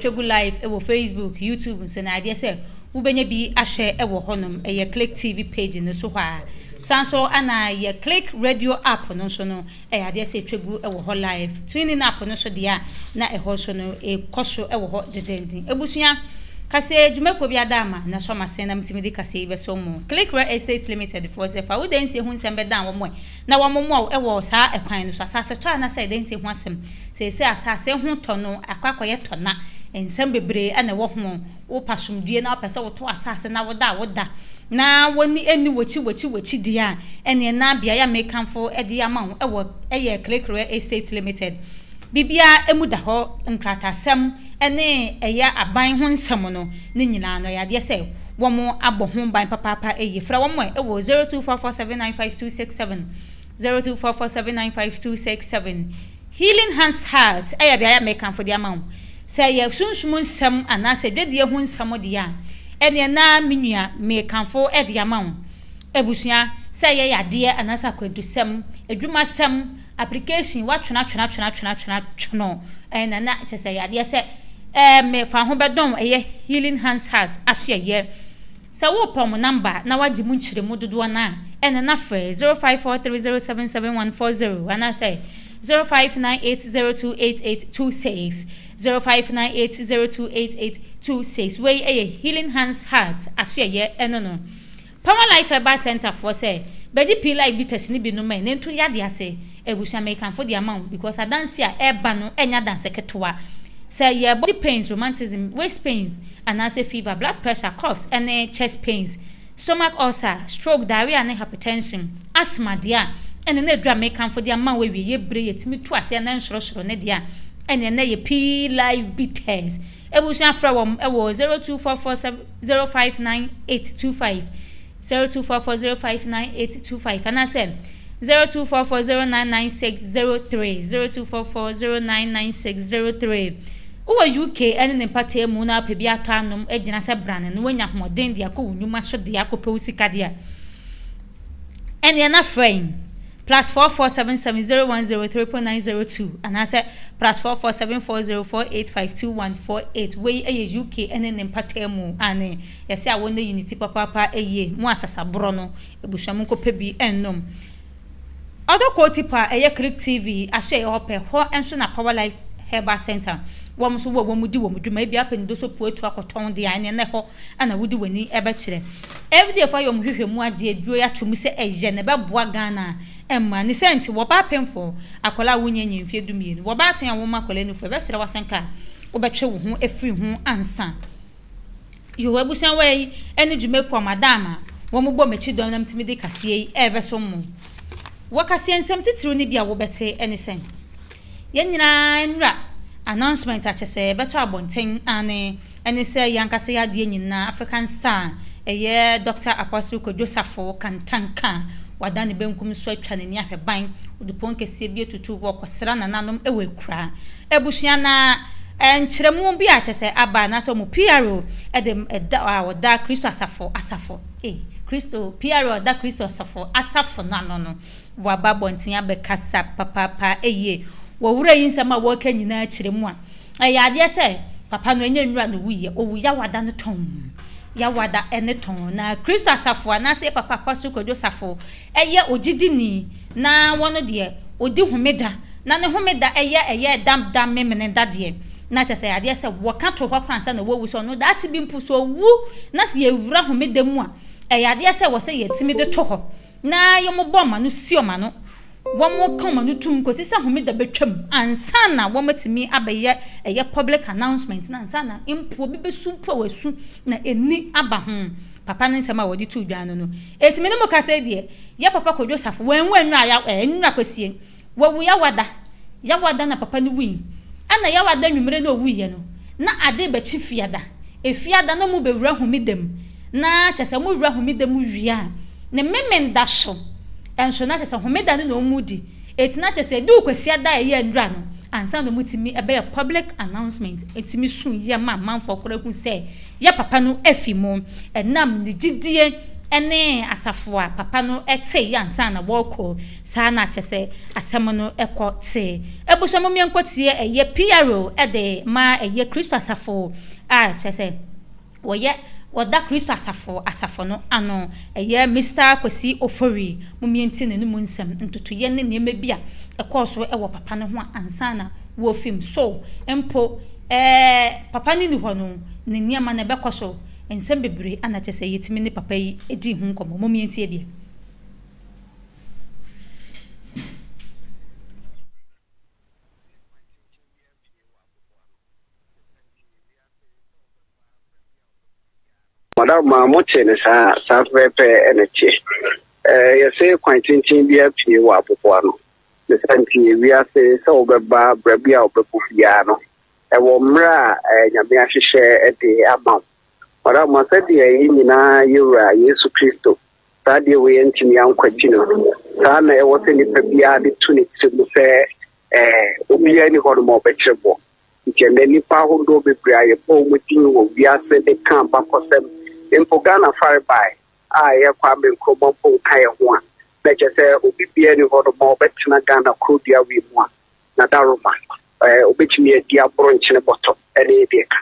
Twa gu live wɔ Facebook, YouTube nso na adeɛ sɛ wobɛnya bi ahwɛ wɔ hɔnom. Ɛyɛ Click TV page no so hɔ a. San so ana yɛ Click Radio app no nso no ɛyɛ adeɛ sɛ twa gu wɔ hɔ live. TuneIn app no nso deɛ a na ɛhɔ nso no ɛkɔ so wɔ hɔ dendenden. Abusua, kaseɛ dwumakuo bi ada ama na so ama sɛn na metumi de kaseɛ yi bɛsom mo? Click Real Estate Limited foɔ sɛ fa wo dansie ho nsɛm bɛdan wɔn ɛ. na wɔamomoa wo wɔ saa ɛkwan no so. Asasetɔ anaasɛ ɛdɛn nti ho asɛm. Seesei asase ho tɔ no akɔ akɔyɛ tɔ na nsɛm bebree na ɛwɔ ho. Wopɛ asomdwoe na wopɛ sɛ wotɔ asase na woda a woda na w'ani nni w'akyi w'akyi w'akyi deɛ a, ɛnneɛ na beaeɛ a merekamfo de ama wo wɔ yɛ Krekrewa Estate Limited. Biribiara mu da hɔ, nkrataasɛm ne ɛyɛ aban ho nsɛm no. Ne nyinaa no, ɛyɛ adeɛ sɛ wɔn abɔ ho ban papaapa yie. Frɛ wɔn ɛ wɔ 0244795267, 0244795267. Healing Hands Heart yɛ beaeɛ a mekamfo de ama wo. Sɛ ɛyɛ sunsum nsɛm anaasɛ dwadie ho nsɛm deɛ a, ɛneɛ na me nua mekamfo de ama wo. Abusua, sɛ ɛyɛ yadeɛ anaasɛ akwantusɛm, adwumasɛm, Application watwena twena twena twena twena twono ɛɛ na na kyɛ sɛ ɛyɛ adeɛ sɛ ɛɛ me fa ho bɛdɔn ɛyɛ healing hands heart aso ɛyɛ sɛ wo pɛ ɔmo number a na wagye mu nkyeremu dodoɔ no a ɛna na frɛ zero five four three zero seven seven one four zero anaa sɛ zero five nine eight zero two eight eight two six zero five nine eight zero two eight eight two six wei ɛyɛ healing hands heart aso ɛyɛ ɛno no. Power Life Herbal Center foɔ sɛ bɛgye pii life bitters no bi nom ɛ na ntu yadeɛ ase abusua mekamfo de ama wo because adanse a ɛba no ɛnyɛ adanse ketewa sɛ yɛ body pains romantism waist pains anaasɛ fever blood pressure coughs ɛne chest pains stomach ulcer stroke diarrhea ne hypertension asthma deɛ a ɛne na adura mekamfo de ama wo awie yɛ bire yɛtumi tu aseɛ na ɛnsorosoro ne deɛ a ɛne na yɛ pii life bitters Abusua frɛ wɔn wɔ 0244059825, 0244059825 anaasɛ 0244099603, 0244099603. Wowɔ UK ne ne mpɔtaa mu na wopɛ bi atɔ anom agyina sɛ brane na woanya ahoɔden de akɔ wo nnwuma so de akɔpɛ wo sika de a, ɛnneɛ na frɛ yɛn. plus four four seven seven zero one zero three point nine zero two anaasɛ plus four four seven four zero four eight five two one four eight wei yɛ UK ne ne mpataa mu aane yɛse awɔ no yi ne ti papaapa yie mo asasaborɔ no abusua mo nkɔ pɛ bi nnom ɔdɔ kɔɔ ti pa ɛyɛ Click TV aso ɛyɛ hɔ pɛ hɔ nso na Power Life Herbal Center wɔn nso wɔ wɔn di wɔn dwuma ebi apɛ ne do so puatu akɔtɔn deɛ ɛne ɛhɔ na wode w'ani bɛkyerɛ. FDF ayɛ wɔn nhwehwɛmu agye aduro yi ato mu sɛ ɛyɛ na ɛbɛboa Ghana mmaa. Ne sɛ nti, wɔba apemfoɔ, akwadaa a wonnya nyɛ mfeɛ du mmienu, wɔba aten a womma akwadaa nufoɔ, ɛbɛsrɛ wo asɛnka a, wobɛtwe wo ho afiri ho ansa. Yehowa abusua wɔ yi ne dwuma kuo a madam a wɔbɔ m'akyi dɔm na metumi de kaseɛ yi rebɛso mo. Wɔ kaseɛ nsɛm titiriw no bi a wobɛte ne sɛn? Yɛn nyinaa nwura announcement akyɛsɛ bɛtɔ abɔnten aane ɛne sɛ yɛn ankasa yɛ adeɛ nyinaa African star ɛyɛ Doctor Apostle Kwadwo Safo Kantanka a wada ne benkum so atwa n'ani ahwɛ ban odupon kɛseɛ bi atutu wɔ kɔsra nananom wɔ akura abusua na nkyerɛmu bi a kyɛsɛ aba anaasɛ ɔmo PRO ɛde ɛda a ɔda Kristo asafo asafo ei Kristo PRO ɔda Kristo asafo asafo no ano no Wɔaba abɔnten abɛkasa papaapa eie. Wɔ wura yi nsɛm a wɔreka nyinaa kyerɛ mu a, ɛyɛ adeɛ sɛ papa no ɛnyɛ nwura na ɔwuiɛ, ɔwu Yawada no tɔnn. Yawada ne tɔnn. Na Kristo asafo anaasɛ yɛ papa Apostle Kwadwo Safo yɛ ogyidini na wɔno deɛ ɔdi homeda na ne homeda yɛ ɛyɛ ɛda da Memeneda deɛ na kyerɛ sɛ ɛyɛ adeɛ sɛ wɔka to hɔ koraa ansa na wawu sɛ ɔno daakye bi mpo sɛ ɔwu na sɛ yɛwura homeda mu a ɛyɛ adeɛ sɛ ɛwɔ sɛ yɛtumi de to hɔ. Na wɔbɔ wɔn ano si wɔn ano, wɔka wɔn ano tom kɔsi sɛ Homeda bɛtwam ansa na wɔatumi abɛyɛ ɛyɛ public announcement no ansa na mpo obi bɛsu mpo a wasu na ɛni aba ho. Papa no nsɛm a wɔde too dwan no no, ɛtumi ne mo ka sɛ deɛ yɛ Papa Kojo Safo, wɔanwu anwura ya, ɛɛ nwura kwasie, Wɔawu Yawada. Yawada na papa no wui. Ɛna Yawada anwummere na ɔwuiɛ no, na ade rebɛkye Fiada. Efiada na mobɛwura Homeda mu. Na kyerɛ sɛ mowura Homeda mu wie a, ne Memenda so nso, na kyerɛ sɛ Homeda no na wɔdi. Enti na kyerɛ sɛ ɛduu Kwasiada a ɛyɛ nnora no, ansa na wɔtumi bɛyɛ public announcement, tumi su yɛ ma amanfoɔ koraa hu sɛ yɛ papa no afi mu. Ɛnam ne gyidie ne asafo a papa no te yɛ ansa na wɔrekɔ. Saa na kyɛ sɛ asɛm no kɔ te. Abusua mu mienkotie ɛyɛ piaro de ma ɛyɛ Kristo asafo a kyɛ sɛ wɔyɛ wɔda Kristo asafo asafo no ano. Ɛyɛ Mister Kwesi Ofori mu mientie ne no mu nsɛm ntotoyɛ ne nneɛma bi a ɛkɔɔ so wɔ papa no ho a ansa na wɔfim so mpo ɛɛ papa no ni hɔ no ne nneɛma no ɛbɛkɔ so nsɛm bebree a na kyɛ sɛ yɛtumi ne papa yi di ho nkɔmmɔ. Mo mientie bi. Madam ma mo te ne saa saa pɛpɛpɛ ɛna teɛ ɛɛ yɛsɛ kwan tenten bi apue wɔ aboboa no ne sɛ nti wiase sɛ wobɛba berɛ bi a wobɛbɔ biara no ɛwɔ mmerɛ a ɛɛ nyame ahyehyɛ ɛde ama wo madam ma sɛdeɛ yɛ nyinaa yɛwura yesu kristo saa deɛ wei antumi ankwati no saa na ɛwɔ sɛ nipa biara de to ne tiri mu sɛ ɛɛ obiara ni hɔ no ma ɔbɛkyerɛ bɔ nti ɛnɛ nipa ahodoɔ bebree a yɛbɔ wɔn din wɔ wiase de ka bakɔsɛm mpo ghana farebae a ɛyɛ kwame nkrumah mpo nka yɛ ho a na kyerɛ sɛ obi biara ni hɔ no ma ɔbɛtena ghana kuro dua wei mu a na daroma ɛɛ obetumi adi aboro nkyene bɔtɔ ɛne deɛ ka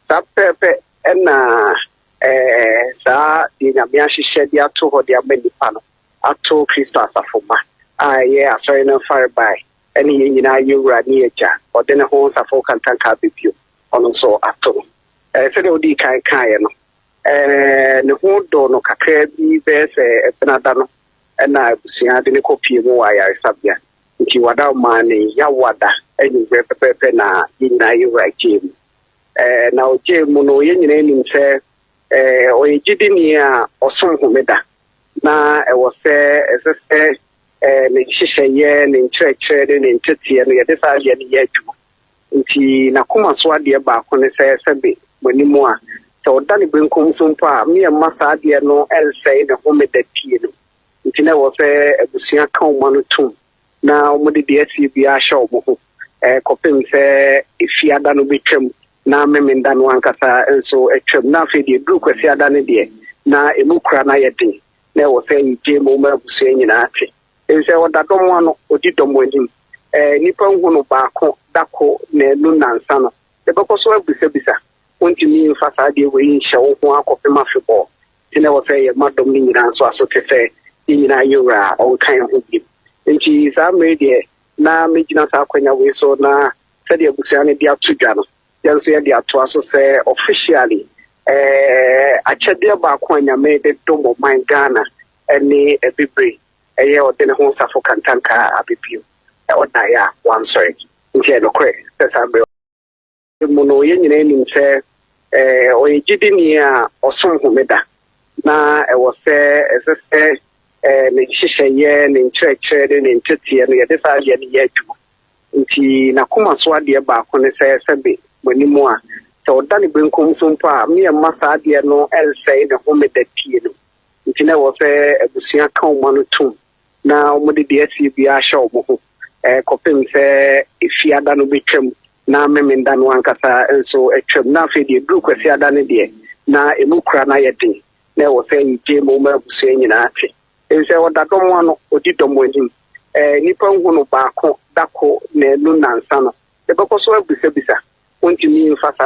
saa pɛpɛ ɛna Ɛɛ, saa deɛ Nyame ahyehyɛ de ato hɔ de ama nnipa no, ato Kristo asafo mma a ɛyɛ Asɔre no mfarebae, ɛne yɛn nyinaa yɛn Wura ne Agya, ɔde ne ho nsafo kantanka aba bio, ɔno nso ato no. Ɛɛ, sɛdeɛ wodii kan kaeɛ no, ɛɛ, ne ho dɔ no kakraa bi bɛyɛ sɛ Benada no na abusua de no kɔpue mu wɔ ayaresabea. Nti, wada ɔmaa ne Yawada anwummerɛ pɛpɛɛpɛ na yɛn nyinaa yɛn Wura gyee mu. na ɔgyee mu no, yɛn nyinaa nim sɛ ɔyɛ gyidini a ɔsom homeda, na ɛwɔ sɛ ɛsɛ sɛ ne nhyehyɛeɛ, ne nkyerɛkyerɛ ne ne nteteɛ no yɛde saa adeɛ no yɛ adwuma. Nti n'akoma so adeɛ baako ne sɛ sɛbe m'anim a sɛ ɔda ne benkum so mpo a me mma saa adeɛ no nsɛe ne homeda tie no. Nti na ɛwɔ sɛ abusua ka ɔma no tom. na wɔde deɛ asie biara ahyɛ wɔn ho eh, kɔpem sɛ efi ada no bɛtwam na memenda no ankasa nso atwam na afei deɛ duru kwasi ada no deɛ na ɛmu kura no ayɛ den na ɛwɔ sɛ yɛgye mu ma abusua nyinaa te nsɛ ɔda dɔm ano ɔdi dɔm anim eh, nnipa nhu no baako dako na ɛnu nansa no ɛbɛkɔ so abisabisa wontumi mfa saa deɛ wei nhyɛ wo ho akɔpem afebɔɔ Nti na ɛwɔ sɛ yɛma dɔm no nyinaa nso aso te sɛ yɛn nyinaa yɛ wura a ɔnka yɛn ho bio. Nti saa mmere deɛ na megyina saa akwanya wei so na sɛdeɛ abusua no de ato dwa no, yɛn nso yɛde atoa so sɛ officially eh, akyɛdeɛ baako a Nyame de dom ɔman Ghana ne abibire ɛyɛ ɔde ne ho nsafo kantanka abibio ɔdaeɛ a wansɔre. Nti ɛyɛ nokorɛ sɛ saa mmere mu no, yɛn nyinaa nim sɛ ɔyɛ gyidini a ɔsom homeda, na ɛwɔ sɛ ɛsɛ sɛ ne nhyehyɛeɛ, ne nkyerɛkyerɛ ne ne nteteɛ no yɛde saa adeɛ no yɛ adwuma. Nti n'akoma so adeɛ baako ne sɛ sɛbe mo anim a sɛ ɔda ne benkum so mpo a mmea mma saa adeɛ no nsɛe ne homeda tie no. Nti na ɛwɔ sɛ abusua ka ɔma no tom. na wɔde deɛ asie biara ahyɛ wɔn ho eh, kɔpem sɛ efiada no bɛtwam na memenda no ankasa nso atwam na afei deɛ duru kwasiada no deɛ na ɛmu kura na yɛ den na ɛwɔ sɛ yɛgye mu ma abusua nyinaa te nsɛ ɔda dɔm ano ɔdi dɔm anim eh, nnipa nhu no baako dako na ɛnu nansa no ɛbɛkɔ so abisabisa wontumi mfa saa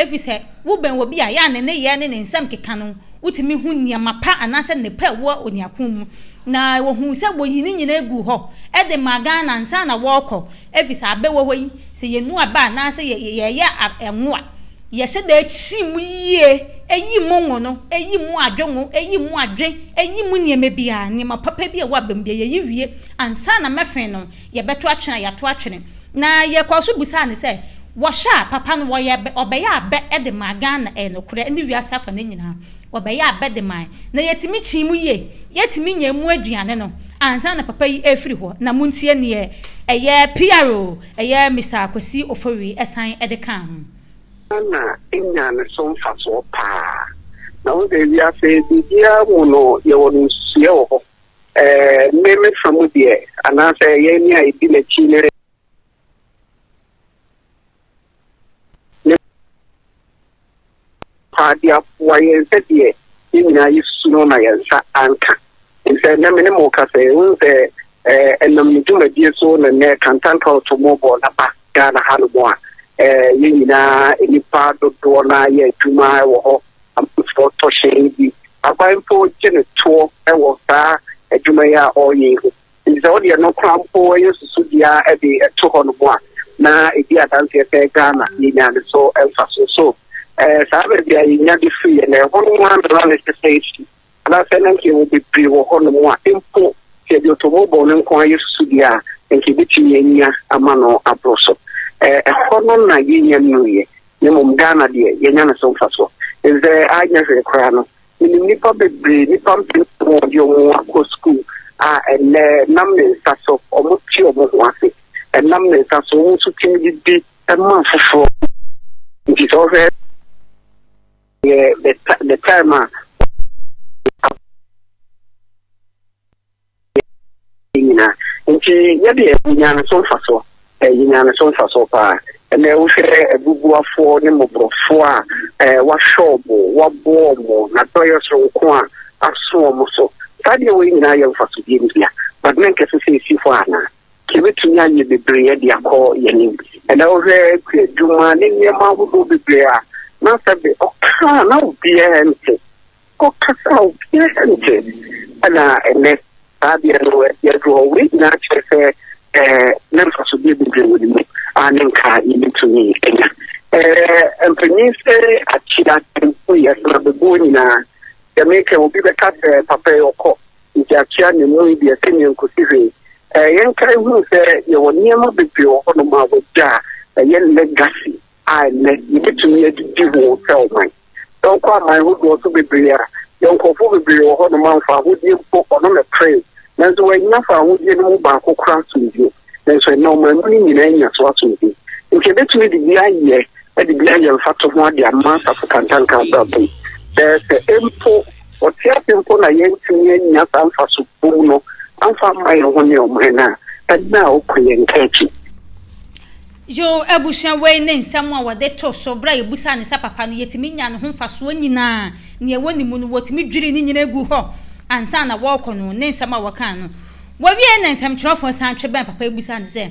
Ɛfiri sɛ, wobɛn obi a, yɛ a ne nneyɛɛ ne ne nsɛm keka no, wotumi hu nneɛma pa anaasɛ nnepa a ɛwɔ onuakuo mu. Na wɔhuu sɛ wɔyii ne nyinaa guu hɔ de maa Ghana ansa na wɔrekɔ. Ɛfiri sɛ, abɛ wɔ hɔ yi, sɛ yɛnu aba anaasɛ yɛreyɛ ngo a, yɛhyɛ da kyi mu yie, ɛyi mu ngo no, ɛyi mu adwe ngo, ɛyi mu adwe, ɛyi mu nneɛma biara, nneɛma papa bi a ɛwɔ abam biara, yɛyi wie ansa na mɛfe no. Yɛbɛto atwene a, yɛato atwene. Na yɛkɔɔ so bisaa no sɛ, Wɔhyɛ a, papa no wɔyɛɛ bɛ, ɔbɛyɛɛ abɛ de maa Ghana, ɛyɛ nokorɛ, ne wiase afa no nyinaa. Wɔbɛyɛɛ abɛ de mae, na yɛtumi kyee mu yie. Yɛtumi nyaa mu aduane no ansa na papa yi refiri hɔ. Na montie deɛ ɛyɛ PR o, ɛyɛ Mister Kwesi Ofori san de kaa ho. Ghana nyaa ne so mfasoɔ paa. Na wo deɛ, wiase biribiara mu no, yɛwɔ no nsusuiɛ wɔ hɔ. Me me fa mu deɛ, anaasɛ yɛn ne a yɛdi n'akyi no re. Paa de aboa yɛn sɛ deɛ yɛn nyinaa yɛsu no na yɛn nsa anka. Sɛ nnɛ me ne mo ka sɛ, wohu sɛ ɛnam ne dwumadie so na nnɛ Kantanta Ɔtɔmmɔbɔ no aba Ghana hanom a, yɛn nyinaa nnipa dodoɔ no ara yɛ adwuma wɔ hɔ amanfoɔ tɔ hyɛn bi. Aban mpo gye no toɔ wɔ saa adwuma yi a ɔreyɛ yi ho, ɛfiri sɛ wodeɛ no koraa mpo yɛ susudua de to hɔ nom a, na ɛdi adanseɛ sɛ Ghana yɛnya ne so mfasoɔ. So saa baabi a yɛnya de firi yɛ no, ɛhɔ no ara na lɔre sesɛɛ firi. Anaasɛ na nka yɛwɔ bebree wɔ hɔnom a mpo sɛ yɛde ɔtɔmmɔbɔ no nko ara yɛ susudeɛ a, nka yɛbɛtumi anya ama no aboro so. Ɛhɔ no na yɛnnya nnuiɛ, na mmom Ghana deɛ, yɛanya no so mfasoɔ. Sɛ anyɛ hwee koraa no, menim nnipa bebree, nnipa mpempem a wɔde wɔn akɔ sukuu a ɛnnɛ nam ne nsa so wɔte wɔn ho ase, ɛnam ne nsa so wɔn nso tumi de di ma afoforɔ. Nti sɛ wohwɛ. Yeah, the, the time uh, nyinaa nti yɛde ɛnya no so mfa so ɛnya no so mfa so paa ɛnna wohwɛ abubuafoɔ ne mmɔborɔfoɔ a ɛɛ wahyɛ ɔmo waboɔ ɔmo na dɔyɛ soronko a aso ɔmo so saa deɛ wɔn nyinaa yɛ mfa so deɛ ntia but na nkɛse sɛ esi hɔ anaa. Yɛbɛtumi ayɛ bebree de akɔ yɛn anim. Ɛnna wohwɛ kuadwuma ne nneɛma ahodoɔ bebree a, na sɛ de ɔka a na obiara nte, ɔkasa a obiara nte. Ɛnna ɛnnɛ, saa adeɛ no asi aduru hɔ. Wei nyinaa kyerɛ sɛ ɛɛ na mfasodeɛ bebree wɔ ne mu a ne nka yɛbɛtumi anya. Ɛɛ mpanyin sɛ akyea tempo yɛ sena bɛboɔ nyinaa. Sɛ meka obi bɛka sɛ papa yi ɔkɔ Egyakyea na emu yɛ deɛ sɛnea nkosi hwee. Ɛɛ yɛnkae hunu sɛ yɛwɔ nneɛma bebree wɔ hɔnom a wɔagya a ɛyɛ legacy a ɛnnɛ yɛbɛtumi adi di ho sɛ ɔman. Sɛ wokɔ aman hodoɔ so bebree a, yɛn nkorɔfoɔ bebree wɔ hɔnom a mfaahodie mpo ɔno na ɛperee nanso wɔannya faahodie no mu baako koraa so bio. nanso ɛnnɛ ɔman mu no nyinaa anya so asom bi. Nti yɛbɛtumi de bi ayɛ de bi ayɛ mfato ho ade ama asafo kantanka abrabɔ mu. Ɛɛ sɛ mpo ɔte ase mpo na yɛntumi anya saa mfaso bom no amfa mma yɛn ho ne ɔman no a, ɛnna a ɔkɔ yɛn nka akyi. Yoh. Abusua wei ne nsɛm a wɔde to so bere a yebisa ne sɛ papa no, yetumi nya ne ho mfasoɔ nyinaa, nea ɛwɔ ne mu no, wɔtumi dwiri ne nyinaa gu hɔ ansa na wɔrekɔ no, ne nsɛm a wɔkaa no. Wɔwiee na nsɛmtwerɛfoɔ san twe bɛn papa yi bisaa no sɛ,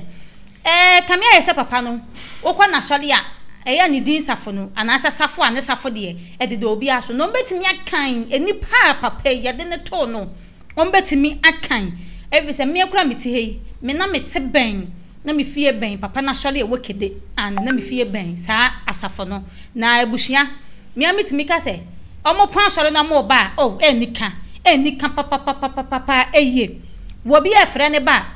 Ɛɛ, kame ayɛ sɛ papa no, wokɔ n'asɔre a ɛyɛ ne din safo no, anaasɛ safo a ne safo deɛ ɛdeda obiara so no, ɔbɛtumi akan nnipa a papa yi, yɛde no too no, wɔbɛtumi akan, efisɛ mmea koraa a mete ha yi, me na mete bɛn, na me fie bɛn papa no asɔre a ɛwɔ Kede, and na me fie bɛn saa asafo no. Na abusua, me ara metumi ka sɛ, wɔpɔn asɔre na wɔba a, oh, ɛnni ka, ɛnni ka papapapapapa, eye. Obi a ɛfrɛ ne ba a,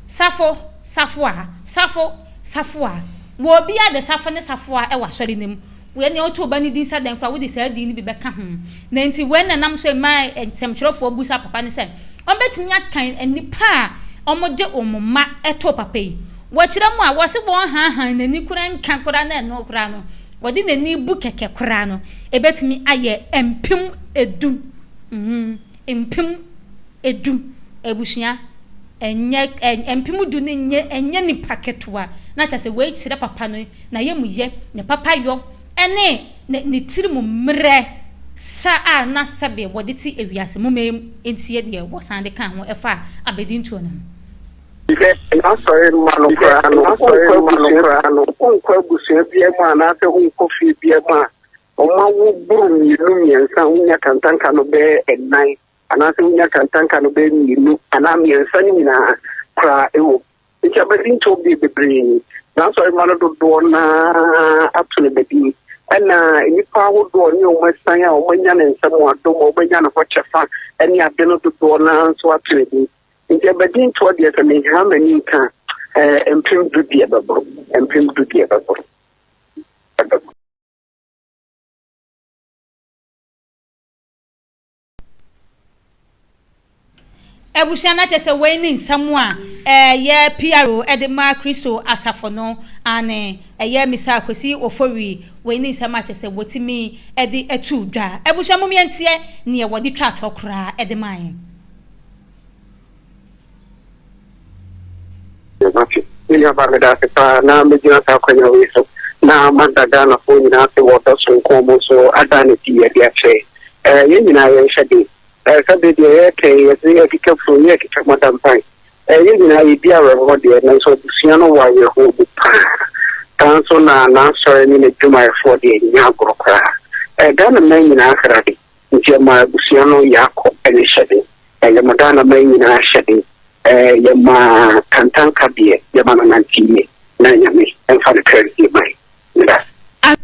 Safo, Safoa, Safo, Safoa. Obiara de Safo ne Safoa wɔ asɔre no mu. Woyɛ nea wotoo ba no din sɛ dɛn koraa a, wode saa din no bi bɛka ho. Na enti wei na ɛnam so ɛmaa nsɛmtwerɛfoɔ bisaa papa no sɛ, Wɔbɛtumi akan nnipa a wɔde wɔn mma too papa yi? Wɔkyerɛ mu a, wɔse wɔnhaahaa n'ani koraa nka koraa na ɛno koraa no, wɔde n'ani bu kɛkɛ koraa no, ɛbɛtumi ayɛ mpem edu. Mpem du abusua ɛnyɛ ɛɛ mpem du no nyɛ ɛnyɛ nipa ketewa. Na kyerɛ sɛ wei kyerɛ papa no n'ayamuyɛ, ne papayɔ ɛne ne ne tiri mu mmerɛ sa a na sɛbe wɔde te ewiase mu mɛm ntie deɛ wɔsan de kaa ho ɛfa abadintuo no ho. Hwɛ, N'Asɔre mma no koraa no, wonkɔ abusua bi mu anaasɛ wonkɔ fie biara mu a, Ɔma wo boro mmienu mmiɛnsa, wonya kantanka no bɛyɛ ɛnan, anaasɛ wonya kantanka no bɛyɛ mmienu anaa mmiɛnsa no nyinaa koraa ɛwɔ mu. Nti abadi ntɔ bie bebree ni. N'asɔremma no dodoɔ no ara ato no badie. Ɛna nnipa ahodoɔ ne wɔn asiane a wɔanya ne nsa mu adom a wɔbɛnya ne hɔ kyɛfa ne ade no dodoɔ no ara nso ato no din. Nti abadi ntoɔ deɛ sɛ menha m'ani nka a, mpem du deɛ ɛbɛboro, mpem du deɛ ɛbɛboro. Abusua no akyɛ sɛ wei ne nsɛm a ɛyɛ PRO de ma Kristo asafo no ane ɛyɛ Mr. Kwesi Ofori wei ne nsɛm akyɛ sɛ wɔtumi de atu dwa. Abusua mu mmiɛnteɛ neɛ wɔde twa atɔ koraa de ma yɛn. Mate. Me nuabaa meda ase paa na megyina saa akwanya wei so na mada Ghanafoɔ nyinaa ase wɔ ɔdɔ soronko a wɔn so ada no adi ɛde akyerɛ eh, yɛn nyinaa yɛnhyɛ den eh, sɛ bere deɛ yɛretɛn yɛdze akeka furo yɛ akeka mada mpan eh, yɛn nyinaa yɛdi awerɛhoɔ deɛ nanso abusua no wɔ awerɛhoɔ mu paa saa nso na n'asɔre ne n'adwumayɛfoɔ deɛ nyɛ agorɔ koraa eh, Ghana man nyinaa srade Enti ɔmaa abusua no Yakob ne hyɛde, ɛyɛ Modaanaman nyinaa hyɛde, yɛmaa kantanka deɛ yɛma no nante yie, na Nyame mfa no kra nsie ma yɛn. Meda ase. Amen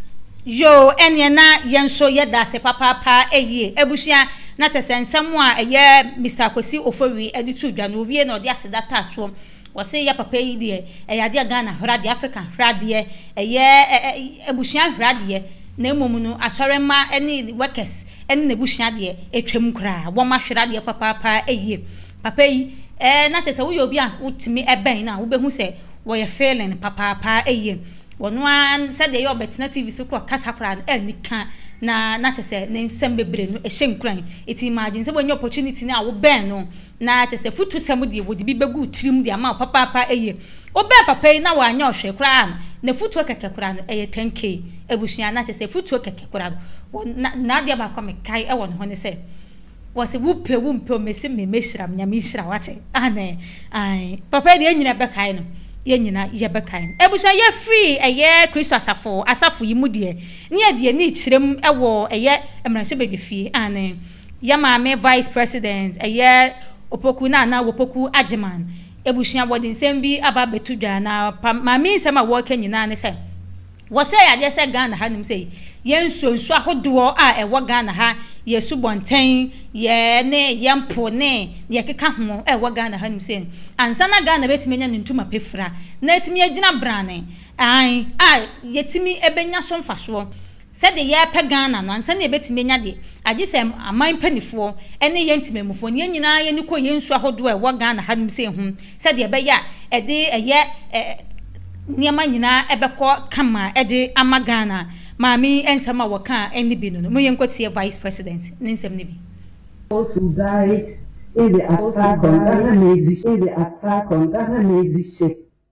yoo ɛneɛ na yɛn nso yɛ daase papaapa ɛyie abusua na kyɛsɛ nsɛm a ɛyɛ Mister Kwasi Ofori ɛde too dwa no owie na ɔde aseda taatoɔ Wɔse yɛ papa yi deɛ ɛyɛ adeɛ a Ghana hwere adeɛ, Africa hwere adeɛ, ɛyɛ abusua hwere adeɛ na mmom no asɔremma ne workers ne n'abusua deɛ ɛtwam koraa, wɔn ahwere adeɛ papaapa yie. Papa yi eh, na kyerɛ sɛ woyɛ obi a wotumi bɛn no a wobɛhu sɛ wɔyɛ feeling papaapa yie. Wɔno ara sɛdeɛ ɛyɛ ɔbɛtena TV so koraa ɔkasa koraa no ɛni ka na na kyerɛ sɛ ne nsɛm bebree no ɛhyɛ nkuran. Nti imagine sɛ woanya opportunity no a wobɛn no. Na kyerɛ sɛ afutusɛm deɛ wɔde bi bɛgu tirim de ama wo papaapa eye. Wobɛn papa yi na wanyɛ wo hwee koraa no, n'afutuo kɛkɛ koraa no, ɛyɛ 10K. Abusua, na kyerɛ sɛ afutuo kɛkɛ koraa no, wɔ, na, na adeɛ baako a mekae wɔ ne ho ne sɛ, wɔse wopɛ wompɛ o, mese me, mɛhyira me, Nyame nhyira wo, wate? Aane, aane. Papa yi deɛ yɛn nyinaa bɛkae no, yɛn nyinaa yɛbɛkae no. Abusua, yɛfiri ɛyɛ Kristo asafo, asafo yi mu deɛ, ne yɛde yɛn ani rekyerɛm wɔ ɛyɛ mmarahyɛbadwafie, aane. Yɛ maame vice president ɛyɛ opoku na na wopoku agyeman abusua wɔde nsɛm bi aba abɛto dwa na maame nsɛm a wɔreka nyinaa ne sɛ wɔsɛe adeɛ sɛ Ghana ha nom sɛ yɛ nsuo nsuo ahodoɔ a ɛwɔ Ghana ha yɛ subɔntɛn yɛ ne yɛ mpo ne yɛ keka ho ɛwɔ Ghana ha nom sɛ ansa na Ghana bɛtumi anya ne ntoma pefra na atumi agyina brane an a yɛtumi ɛbɛnya so mfasoɔ Sɛdeɛ yɛrepɛ Ghana no, ansa na yɛbɛtumi anya deɛ, agye sɛ aman mpanifoɔ ne yɛn temanmufoɔ ne yɛn nyinaa yɛani kɔ yɛn nsuo ahodoɔ a ɛwɔ Ghana ha nom sei ho sɛdeɛ ɛbɛyɛ a ɛde ɛyɛ nneɛma nyinaa ɛbɛkɔ kama de ama Ghana. Maame yi nsɛm a wɔkaa ne bi no no, mo yɛnkɔtie Vice President ne nsɛm no bi. Those who died in the attack on Ghana Navy ship.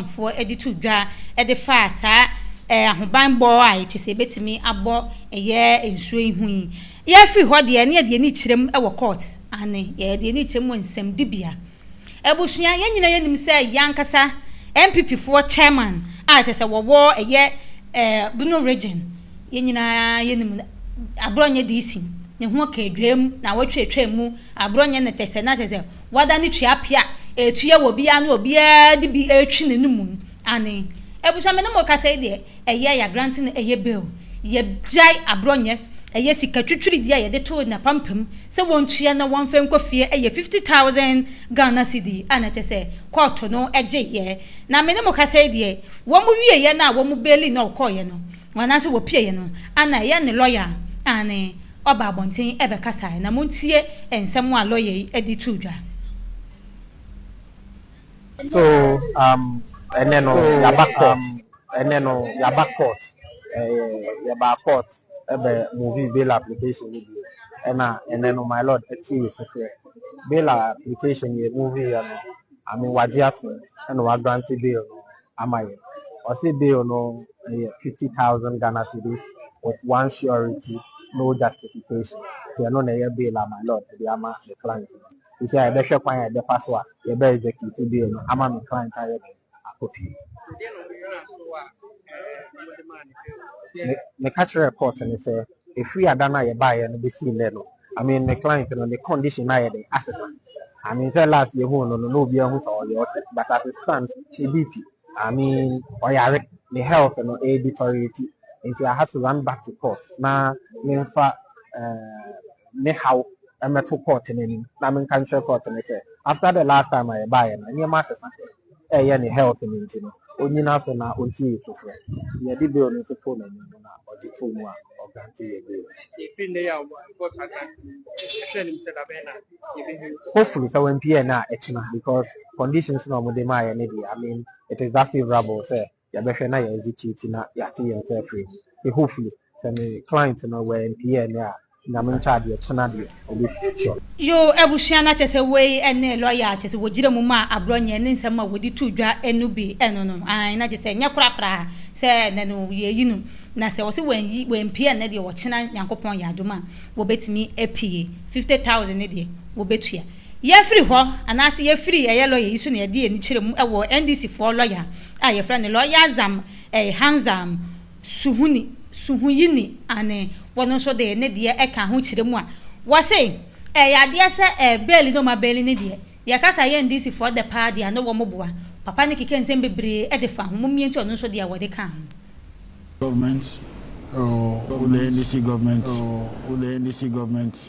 Amanfoɔ de too dwa de faa saa ahobanbɔ a ɛte sɛ ɛbɛtumi abɔ ɛyɛ nsuo yi ho yi. Yɛfiri hɔ deɛ ne yɛde ani kyerɛm wɔ court, aane, yɛde ani kyerɛm wɔ nsɛmdibea. Abusua, yɛn nyinaa yɛnim sɛ yɛn ankasa NPP foɔ chairman a kyerɛ sɛ wɔwɔ ɛyɛ Bono region, yɛn nyinaa yɛnim no, aborɔ nyɛ DC, ne ho ɔkaa dwam na awɔtwe atwam mu, aborɔ nyɛ ne tɛsɛ na kyerɛ sɛ, Wada ne tuapea a ɛtua wɔ obiara ne obiara de bi retwe ne no mu no ane. Abusua me ne mo kasa yi deɛ ɛyɛ yagra nti na ɛyɛ bail. Yɛgyae aborɔ nyɛ. Ɛyɛ sika twitwiridie a yɛde too n'apampam sɛ wɔntua na wɔmfa nkɔ fie ɛyɛ fifty thousand Ghana cedi a na kyerɛ sɛ kɔɔto no gyeeɛ. Na me ne mo kasa yi deɛ wɔn wieeɛ no a wɔn baili no a ɔkɔeɛ no Wɔn nan ase wɔpieyɛ no, Anna ɛyɛ ne lɔya aane ɔba abɔnten bɛkasaɛ na montie nsɛm a lɔya yi de too dwa. So um ɛnɛ no yaba court. Ɛnɛ no yaba court ɛɛ yɛbaa court ɛbɛ movie bail application no bio ɛna ɛnɛ no my lord ɛte yɛ sufrɛ bail application yɛ movie yɛ no I mean wagye atom ɛna wa grante bail no. ama yɛn. Ɔse bill no yɛ fifty thousand Ghana cedis with one surety no justification nti ɛno na ɛyɛ bill a my lord ɛde ama me client no. Sisi a yɛbɛhwɛ kwan a yɛbɛfa so a yɛbɛ execute bill no ama me client a yɛde akɔ fie. Me meka kyerɛɛ court no sɛ ɛfiri ada no a yɛbaeɛ no bɛsi nnɛ no I mean my client no the condition na yɛ de asesa. I mean sɛ last year hu no no na obi ahu sɛ ɔyɛ ɔtɛ but as it stands ne BP I mean ɔyare ne health no ɛyɛ e deteriorate nti I had to run back to court na memfa uh, ne haw mmɛto court no anim na menka nkyerɛ court no sɛ after the last time a yɛbaeɛ no nneɛma asesa. ɛyɛ ne health no nti no onyina so na ɔnti yi foforɔ yɛde bill no nso too n'anim no na ɔgye too mu a ɔgrante yɛ bill hopefully sɛ wampie ɛnɛ a ɛkyena because conditions na ɔmode maa yɛ ne deɛ I mean it is that favourable sɛ yɛbɛhwɛ na yɛ execute na yɛate yɛn nsa afiri mu nti hopefully sɛ me client no wɔ ɛmpie ɛnɛ a nyame nkyɛ adeɛ kyena deɛ ɔbɛhyira. Yoo abusua na kyɛsɛ wei ne lɔya a kyɛsɛ wɔgyina mu ma aborɔ nyɛ ne nsɛm a wɔde to dwa no bi ɛno no aane na kyɛsɛ nyɛ kora koraa sɛ ɛnɛ no yɛyi no na sɛ wɔse wanyi wampie ɛnɛ deɛ ɔkyena Nyankopɔn yɛ adom a wɔbɛtumi apue fifty thousand no deɛ wɔbɛtua Yɛfiri hɔ anaase yɛfiri ɛyɛ lɔya yi so na yɛde yɛn ani kyerɛ mu wɔ NDC foɔ lɔya a yɛfrɛ no Lɔya Zam ɛɛ Hanzam Suhuni Suhuyini ane wɔn nso de ne deɛ ɛka ho kyerɛ mu a wɔse ɛyɛ adeɛ sɛ ɛɛ bɛɛli ne wɔn abɛɛli ne deɛ yɛkasa yɛ NDC foɔ dɛ paa deɛ ano wɔn boa papa no keka nsɛm bebree de fa ho mmom yɛntie ɔno nso deɛ wɔde ka ho. Government oh, oh the NDC government oh, oh the NDC government.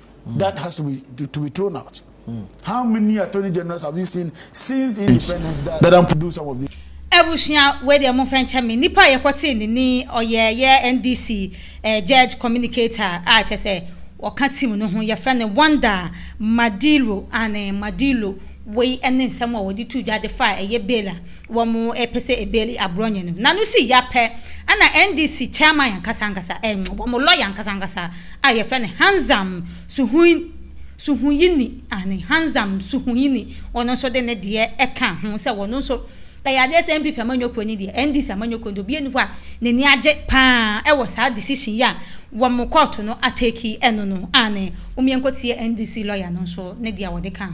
That has to be to, to be thrown out. Mm. How many attorney generals have you seen since independence that that to do some of this? abusua wei deɛ mo fɛn kyɛ me nipa yɛ kɔte ne ni ɔyɛ yɛ ndc eh, judge communicator a kyɛ sɛ ɔka team no ho yɛfrɛ no wonder madilo ane madilo wei ne nsɛm a wɔde tu dwa de fa ɛyɛ bail a wɔpɛ sɛ ebeli aborɔnye no na no si ya pɛ na NDC chairman ankasa ankasa eh wɔn lɔya ankasa ankasa a yɛfrɛ no Hanzam Suhui Suhuyini aane Hanzam Suhuyini ɔno nso de ne deɛ ɛka ho sɛ wɔn nso ɛyɛ adeɛ sɛ NPP amanyɔkuo ni deɛ NDC amanyɔkuo deɛ obiara ni hɔ a n'ani agye paa ɛwɔ saa decision yi a wɔn kɔɔto no ateki ɛno no aane wɔn yɛn kɔ tie NDC lɔya no nso ne deɛ ɔde ka ho.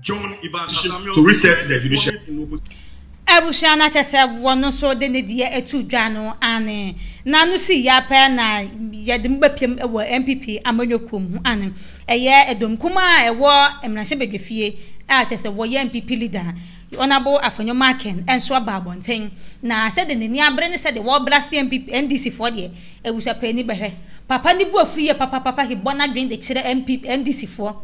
John Ibashim to reset the judiciary. Abusua no akyɛ sɛ wɔ no nso de ne deɛ ɛtu dwa no ane. Na no si ya pɛɛ na yɛde mo bɛpiam wɔ NPP amanyɔ kuo mu ane. Ɛyɛ ɛdɔm kumaa a ɛwɔ mmarahyɛ badwafie a kyɛ sɛ wɔyɛ NPP leader Honourable Afenyo Macken nso aba abɔnten. Na sɛdeɛ n'ani abere ne sɛdeɛ wɔ blaste NPP NDC foɔ deɛ abusua pɛ ani bɛhwɛ. Papa no bu afu yie papapapa he bɔ n'adwene de kyerɛ NPP NDC foɔ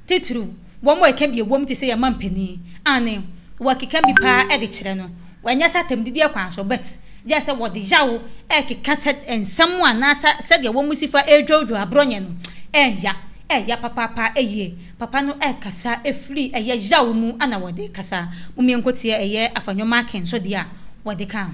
titiriw. Wɔn a ɛka bi a ɛwom te sɛ yɛn mampanin, aane, wɔkeka bi pa ara de kyerɛ no, ɛnyɛ sɛ atɛmdidiɛ kwan so, but gyɛ sɛ wɔde yaw rekeka sɛ nsɛm anaa sɛ sɛdeɛ wɔn si fa ɛredwoodwoo aborɔnyɛ no ɛnya ɛya papaapa yie. Papa no ɛkasa firi ɛyɛ yaw mu na wɔde kasa. Momyɛnkɔtie ɛyɛ Afah Nyomakin nso deɛ a wɔde kaa ho.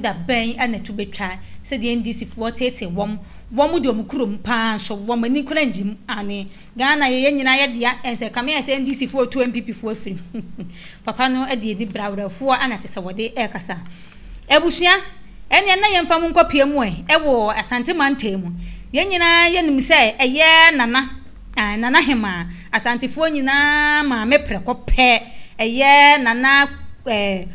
da bɛn na ɛto bɛtwa sɛ deɛ NDC foɔ teetee wɔn, wɔn de wɔn kurom paa nso wɔn ani kora ngye mu, aane Ghana yɛ yɛn nyinaa yɛ dea, ɛnsɛ kame ayɛ sɛ NDC foɔ retu NPP foɔ afiri mu, papa no de anibere awerɛhoɔ na te sɛ wɔde rekasa. Abusua, ɛneɛ na yɛmfa mo nkɔ pie mu ɛ, wɔ Asante mantam mu, yɛn nyinaa yɛnim sɛ ɛyɛ Nana, aane Nana Hemaa, Asantefoɔ nyinaa maame prɛko pɛ, ɛyɛ Nana ɛɛ,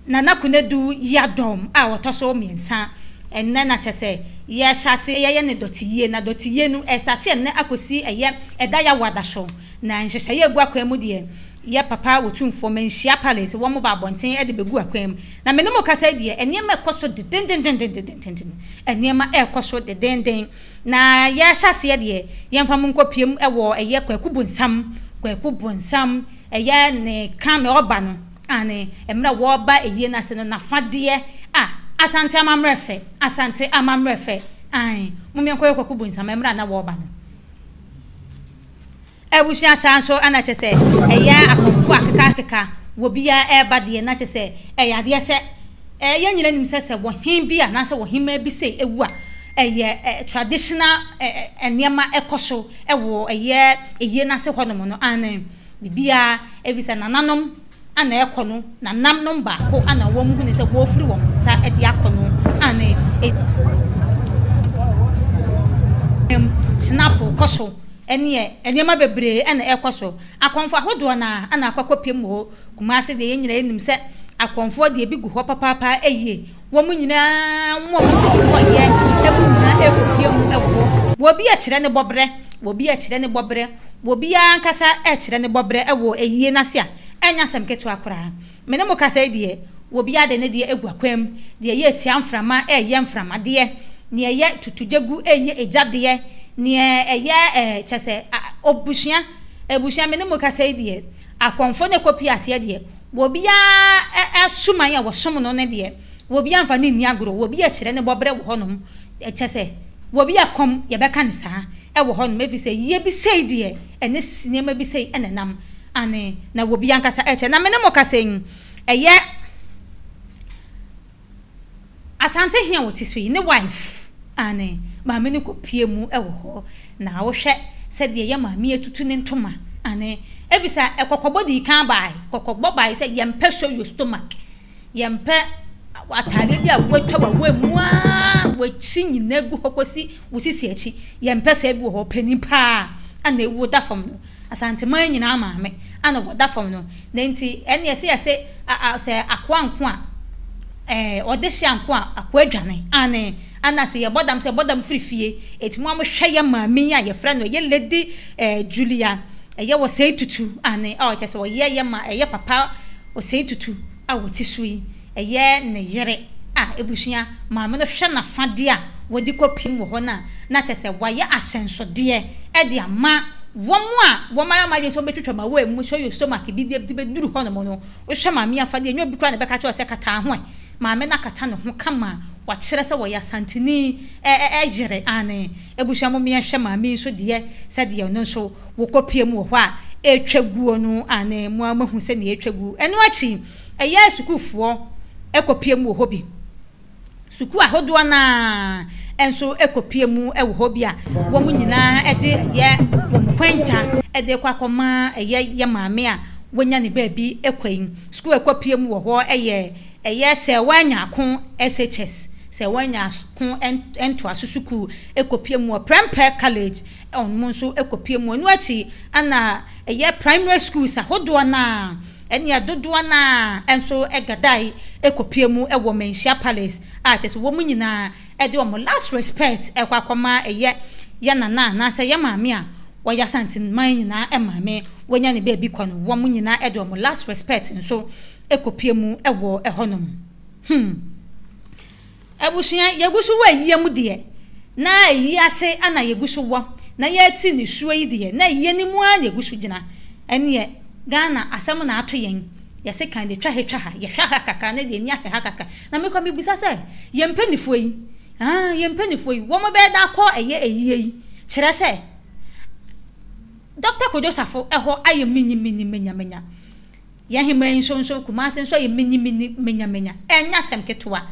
Nana Konadu yia dɔm a wɔtɔ so mmiɛnsa ɛnnɛ na kyerɛ sɛ yɛrehyɛ ase yɛyɛ no dɔteyie na dɔteyie no ɛrestate ɛnnɛ akɔsi ɛyɛ ɛda yɛ awɔada so na nhyehyɛeɛ a ɛgu akwan mu deɛ yɛ papa wɔ tumfoɔ manhyia palace wɔn ba abɔnten de bɛgu akwan mu na me ne mo kasa yi deɛ nneɛma ɛkɔ so dedendendendendenden nneɛma ɛrekɔ so dedenden na yɛahyɛ aseɛ deɛ yɛmfa mo nkɔ piem ɛwɔ ɛyɛ kwaku bonsam kwaku bonsam ɛyɛ ne ka me ɔba no Aane, mmerɛ wɔɔba ayie no ase no nafadeɛ a Asante amammerɛ fɛ, Asante amammerɛ fɛ, aane, momyɛ nkɔyɛ kwaku bonsam mmerɛ a na wɔɔba no. Abusua saa nso na kyɛ sɛ ɛyɛ akɔmfoɔ akeka akeka wɔ bia ɛɛba deɛ na kyɛ sɛ ɛyɛ adeɛ sɛ ɛɛ yɛn nyina nim sɛ sɛ wɔhen bi a naasɛ wɔhemaa bi sɛ ɛwu a ɛyɛ traditional ɛɛ nneɛma ɛkɔ so ɛwɔ ɛyɛ ayie no ase hɔ nom no aane. Ne biaa, efisɛ nananom a na ɛkɔ no nanam nom baako a na wɔn hunu sɛ wɔrefiri wɔn nsa de akɔ no a na ɛnam sinapo kɔ so ɛneɛ nneɛma bebree ɛna ɛkɔ so akɔnfo ahodoɔ na ɛna akɔkɔ pem wɔ Kumasi deɛ yɛn nyinaa nim sɛ akɔnfoɔ deɛ ebi gu hɔ papaapa ɛyie Wɔn nyinaa mɔ wɔn ti kɔkɔeɛ mu nyinaa repue mu wɔ hɔ. Obi rekyerɛ ne bɔberɛ, obi rekyerɛ ne bɔberɛ, obiara ankasa rekyerɛ ne bɔberɛ wɔ ayie no ase a, ɛnyɛ asɛm ketewa koraa. Me ne mo kasa yi deɛ, obiara de ne deɛ agu akwan mu. Deɛ ɛyɛ tia mframa reyɛ mframa deɛ, deɛ ɛyɛ tutugyegu reyɛ egya deɛ, deɛ ɛyɛ ɛɛ kyerɛ sɛ a, abusua, abusua, me ne mo kasa yi deɛ, Akɔmfoɔ no ɛkɔ pie aseɛ deɛ, obiara suman a wɔsom no no deɛ, obiara mfa no nni agorɔ, obi akyerɛ ne bɔberɛ wɔ hɔnom, kyerɛ sɛ, obi akɔm, yɛbɛka no saa, wɔ hɔnom, ɛfiri sɛ, yɛ bi sei deɛ, ɛne nneɛma bi sei na ɛnam, aane, na obi ankasa kyerɛ, na me ne mo kasa yi, ɛyɛ. Asante he a wɔte so yi, ne wife, aane, maame no kɔpue mu wɔ hɔ, na wohwɛ sɛdeɛ yɛ maame atutu ne ntoma, aane, efisɛ kɔkɔbɔ dii kan baae, kɔkɔbɔ baae sɛ yɛmpɛ show your stomach, yɛmpɛ ataadeɛ bi a woatwa w'awaa mu aa w'akyi nyinaa gu hɔ kɔsi wo sisi akyi, yɛmpɛ saa bi wɔ hɔ, panin paa a na awu da fam no, Asanteman nyinaa maame a na wɔda fam no, na enti ɛnneɛ sɛ yɛse a a sɛ akoa nko a ɛɛ ɔdehyeɛ nko a akoa dwane aane ana sɛ yɛbɔ dam sɛ yɛbɔ dam firi fie eti moa mo hwɛ yɛ maame yi a yɛfrɛ no ɛyɛ lady ɛɛ Julia ɛyɛ Osei Tutu aane a ɔkyerɛ sɛ ɔyɛɛyɛ ma ɛyɛ papa Osei Tutu a ɔte so yi. Ɛyɛ ne yere a abusua maame no hwɛ n'afade a wɔde kɔpiem wɔ hɔ no a, na kyerɛ sɛ wayɛ ahyɛnsodeɛ de ama wɔn a wɔayɛ wɔn adwene sɛ wɔbɛtwitwa ma wɔamu, sɛ ɔyɛ stomach bi deɛ de bɛduru hɔnom no. Wohwɛ maame yi afadeɛ a, ɛnyɛ obi koraa na ɛbɛka kyerɛ wo sɛ kata wo ho ɛ. Maame no akata ne ho kama a wakyerɛ sɛ ɔyɛ Asanteni yere. Aane, abusua mommra yɛnhwɛ maame yi nso deɛ sɛdeɛ ɔno nso wɔkɔpiem wɔ hɔ a ɛretwa guo no. Aane, mo ara moahu sɛdeɛ ɛretwa gu. Ɛno akyi, Ɛyɛ a sukuufoɔ kɔpue mu wɔ hɔ bi. Sukuu ahodoɔ no ara nso kɔpue mu wɔ hɔ bi a wɔn nyinaa de yɛ wɔn kwankya de rekɔ akɔma ɛyɛ yɛ maame a wanya ne baabi kwa yi. Sukuu a ɛkɔpue mu wɔ hɔ yɛ ɛyɛ Sɛɛwaa Nyaako SHS, Sɛɛwaa Nyaako Ntoaso Sukuu kɔpue mu, Prempeh College wɔn nso kɔpue mu. Ɛno akyi na ɛyɛ primary schools ahodoɔ no ara. Ɛnna dodoɔ no ara nso gadae kɔpue mu wɔ Manhyia Palace, a kyerɛ sɛ wɔn nyinaa de wɔn last respect rekɔ akɔma yɛ yɛ nana anaasɛ yɛ maame a ɔyɛ Asanteman nyinaa maame, wanya ne baabi kɔ no, wɔn nyinaa de wɔn last respect nso kɔpue mu wɔ hɔnom. Hmm. Abusua, yɛgu so wɔ ayie mu deɛ, na ayie ase ara na yɛgu so wɔ, na yɛte nisuo yi deɛ, na ayie no mu ara na yɛgu so gyina. Ɛnneɛ, Ghana asɛm na ato yɛn. Yɛse kan deɛ, twa ha twa ha, yɛhwɛ ha kakra na deɛ ani ahwɛ ha kakra. Na me kora mebisa sɛ, yɛn mpanimfoɔ yi, ah, yɛn mpanimfoɔ yi, wɔn bɛyɛ dɛn akɔ ɛyɛ ayie yi? Kyerɛ sɛ, Dɔkta Kojo Safo hɔ ayɛ minyi minyi, menya menya. Yɛn hemmaa yi nsonsono Kumasi nso ayɛ minimini, menyamenya. Ɛnyɛ asɛm ketewa.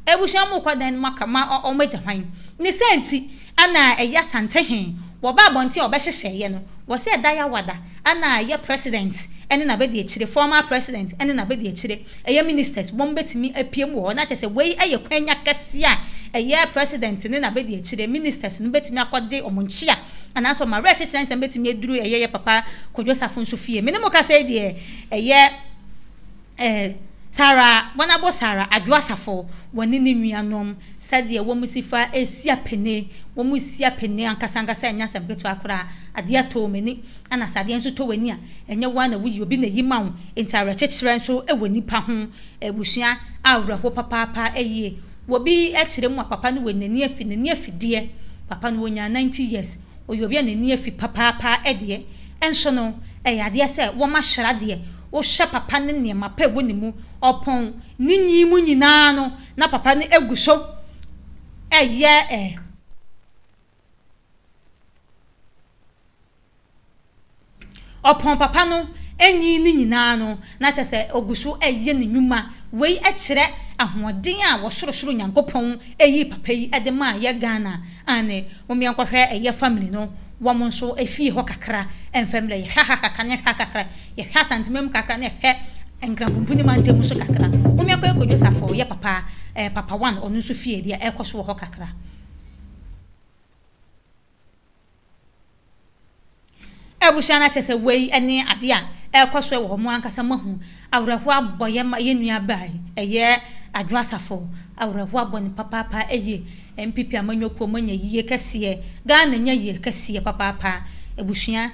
Abusua no mu rekɔ dɛn na moaka ma wɔagya hwan? Ne saa nti, ɛna a ɛyɛ Asante he, wɔba abɔnten a wɔbɛhyehyɛeɛ no, wɔ sɛ ɛda Yawada, ɛna a ɛyɛ President ne n'abadiakyire, former President ne n'abadiakyire, ɛyɛ Ministers, wɔn bɛtumi apue mu wɔ hɔ. Na kyerɛ sɛ, wei yɛ kwanya kɛseɛ a ɛyɛ President ne n'abadiakyire, Ministers, no bɛtumi akɔde wɔn nkyea. Nanso m'awerɛkyekyerɛ nsɛm betumi aduru ɛyɛ yɛ papa Kojo Safo nso fie. Me ne mo kasa yi deɛ, ɛyɛ eh, Tara Wanabo Sara Adwoa Safo, wɔne ne nuanom, sɛdeɛ wɔn si fa si apene, wɔn si apene ankasa ankasa ɛnyɛ asɛm ketewa koraa. Adeɛ tɔɔ m'ani, ɛna sɛ adeɛ nso tɔ w'ani a, ɛnyɛ wo ara na woyi obi na ɛyi ma wo. Enti awerɛkyekyerɛ nso wɔ nnipa ho, abusua awerɛho papaapa yie. Wɔ bi kyerɛ mu a papa no wɔ nani afi nani afi deɛ papa no ɔnyaa ninety years ɔyɛ obi a nani afi papaapa deɛ nso no ɛyɛ adeɛ sɛ wɔn ahyɛra deɛ wohwɛ papa no nneɛma pa ɛwɔ ne mu ɔpɔn ne nyi mu nyinaa no na papa no ɛgu so ɛyɛ Ɔpɔn papa no nyin no nyinaa no, na kyerɛ sɛ ogu so reyɛ ne nnwuma. Wei kyerɛ ahoɔden a ɔsorosoro Nyankopɔn yii papa yi de maa yɛ Ghana. Aane, momyɛ nkɔhwɛ yɛ family no, wɔn nso fie hɔ kakra mfa mmrɛ. Yɛhwɛ ha kakra na yɛhwɛ ha kakra. Yɛhwɛ Asanteman mu kakra na yɛhwɛ Nkrampumpu ne Mantam mu nso kakra. Momyɛ nkɔyɛ Kwadwo Saffo, yɛ papa, eh, papa one, ɔno nso fie deɛ ɛrekɔ so wɔ hɔ kakra. Abusua no akyɛ sɛ wei ne ade a ɛrekɔ so wɔ hɔ. Mo ankasa moahu awerɛhoɔ abɔ yɛn ma yɛn nua baa yi. Ɛyɛ Adwo Asafo. Awerɛhoɔ abɔ no papaapa yie. NPP amanyɔkuo moanya yie kɛseɛ. Ghana anya yie kɛseɛ papaapa. Abusua.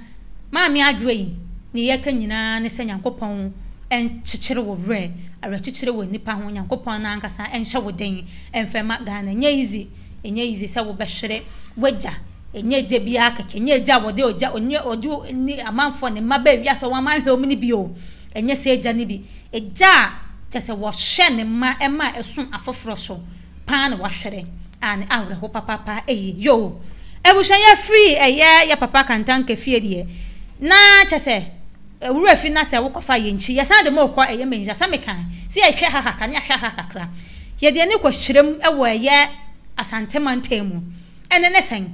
Maame Adwoa yi ne yɛ ka nyinaa ne sɛ Nyankopɔn nkyekyere wo werɛ, awerɛkyekyerɛ wɔ nnipa ho, Nyankopɔn no ankasa nhyɛ wo den mfa mma Ghana. Ɛnyɛ easy, ɛnyɛ easy sɛ wo bɛhwere w'agya, ɛnyɛ agya biara kɛkɛ, ɛnyɛ agya a wɔde ogya, ɛnyɛ ɔde ne amanfoɔ, ne mma baa wiase a wɔn amanhwɛ wɔn no bi o, ɛnyɛ saa agya no bi. Agya a kyɛ sɛ wɔhwɛ ne mma ma ɛsom afoforɔ so. paa na wahwɛrɛ a ne awerɛho papaapa ɛyie yoo abusua yɛ firi ɛyɛ yɛ papa kantanka fie deɛ na kyɛ sɛ wura fi na sɛ wokɔ fa yɛ nkyi yɛsan de mo kɔ ɛyɛ mɛnhyira sɛ meka sɛ yɛhwɛ ha kakra ne yɛahwɛ ha kakra yɛde ani kɔ hyerɛm ɛwɔ ɛyɛ asante mantam mu ɛne ne sɛn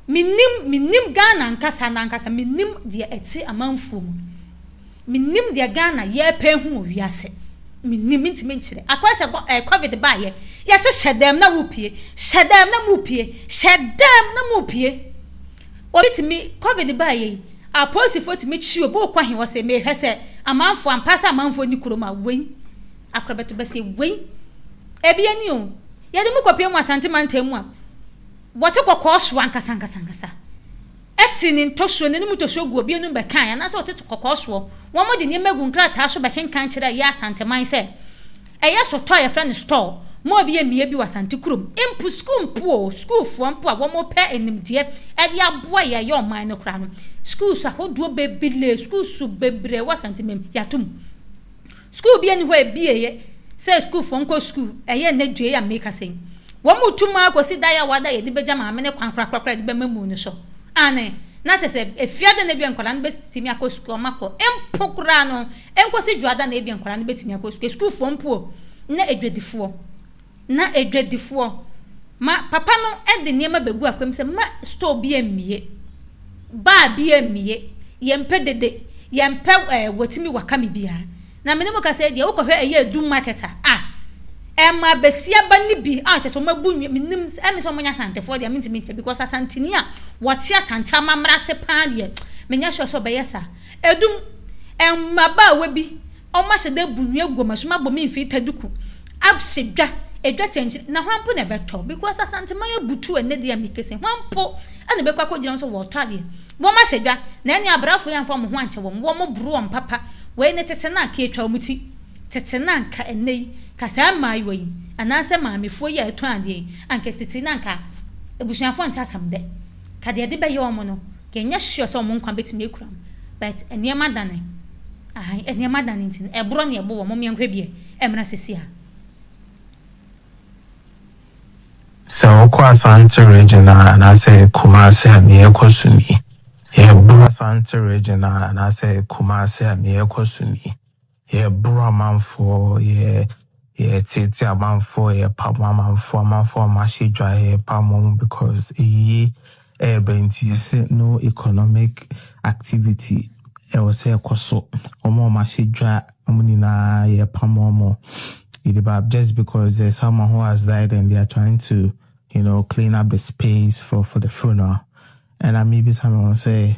menim menim Ghana nkasa nankasa menim deɛ ɛte amanfuo mu Mennim deɛ Ghana yɛɛpɛ ahu wɔ wiase. Mennim, mentumi nkyerɛ. Akɔyɛ sɛ eh, covid baayɛ, yɛse hyɛ dɛm na wopue, hyɛ dɛm na mopue, hyɛ dɛm na mopue. Obi tumi, covid baayɛ yi, apolisifoɔ tumi kyi obi wokɔ he wɔse mehwɛ sɛ amanfoɔ ampa sɛ amanfoɔ nni kurom a wei akorɔ bɛto bɛse wei. Ebi ani o, yɛde mu kɔpie mu Asante mantam mu a, wɔte kɔkɔɔ so ankasa ankasa ankasa. te ne ntɔsoɔ, n'anim ntɔsoɔ gu obi anom bɛkae, anaasɛ ɔte kɔkɔɔ soɔ. Wɔde nneɛma gu nkrataa so bɛkenkan kyerɛ yɛn Asanteman sɛ ɛyɛ sotɔɔ a yɛfrɛ no store ma obi a mmea bi wɔ Asante kurom. Mpo sukuu mpo o, sukuufoɔ mpo a wɔpɛ animdeɛ de aboa yɛn yɛ ɔman no koraa no, schools ahodoɔ bebree, schools bebree wɔ Asantemam, yɛato mu. Sukuu bia ni hɔ a ɛbieɛ sɛ sukuufoɔ nkɔ sukuu, ɛyɛ nnɛ due yi a meekasa yi. Wɔn mo tu maa kɔsi da yawa da a yɛde bɛgya maame no kwan korakora koraa de bɛma muu no so. Aane, na kyerɛ sɛ Afiada na ebia nkwadaa no bɛtumi akɔ sukuu a wɔn akɔ mpo koraa no, ɛnkɔsi Dwoada na ebia nkwadaa no bɛtumi akɔ sukuu. Sukuufoɔ mpo o, na adwadifoɔ. Ná adwadifoɔ ma papa no de nneɛma bɛgu afɔkam mu sɛ, Mma store bi ammue, bar bi ammue, yɛmpɛ dede, yɛmpɛ ɛɛ watumi wakame biara. Na me ne mo kasa yi deɛ, wokɔhwɛ ɛyɛ Adum market a, ah, ɛmaa basiaba no bi a kyerɛ sɛ wɔabu nnwa, mennim, ɛme sɛ wɔnyɛ Asantefoɔ deɛ a mentumi nkyɛ because Asanteni a wɔte Asante amammerɛ ase paa deɛ, menyɛ sure sɛ ɔbɛyɛ saa. Edum, Mbabaawa bi wɔahyɛ da ebu nnua gu wɔn so, wɔabɔ Minfilter duku, ahyɛ dwa, edwa kyɛnkyɛn, na hwan mpo na ɛbɛtɔ? Because Asanteman abutuw ɛnnɛ deɛ a mekese, hwan mpo na ɛbɛkɔ akɔgyina ho sɛ wɔretɔ adeɛ? Wɔahyɛ dwa, na ɛnneɛ abrafo yi amfa wɔn ho ankyɛ wɔn, wɔboro wɔn papa, wei ne tete no a anka yɛtwa wɔn ti, tete no a anka ɛnnɛ yi, ka saa mmaayewa yi, anaasɛ maamefoɔ yi a ɛtɔn adeɛ yi, anka tete no anka abusuafoɔ nte asɛm dɛ. Ka deɛ ɛde bɛyɛ wɔn no, yɛ nyɛ sure sɛ wɔn nkwa bɛtumi akura wɔn, but nneɛma dane, ahan, nneɛma dane nti no, ɛborɔ na ɛbo wɔn, mom yɛnhwɛ bie ɛmmra sɛsi a. Sɛ wokɔ Asante region a anaasɛ Kumasi a nea ɛkɔ so ni. Sɛ woba Asante region a anaasɛ Kumasi a nea ɛkɔ so ni. Yɛboro amanfoɔ, yɛ, yɛteetee amanfoɔ, yɛpam amanfoɔ, amanfoɔ a wɔahyɛ dwa, yɛpam wɔn because ayie reba nti yɛsɛ no economic activity ɛwɔ sɛ ɛkɔ so. Wɔn a wɔahyɛ dwa, wɔn nyinaa yɛpam wɔn. Yɛde ba just because there's someone who has died and they are trying to you know clean up the space for for the funeral. Ɛna mebisa me ho sɛ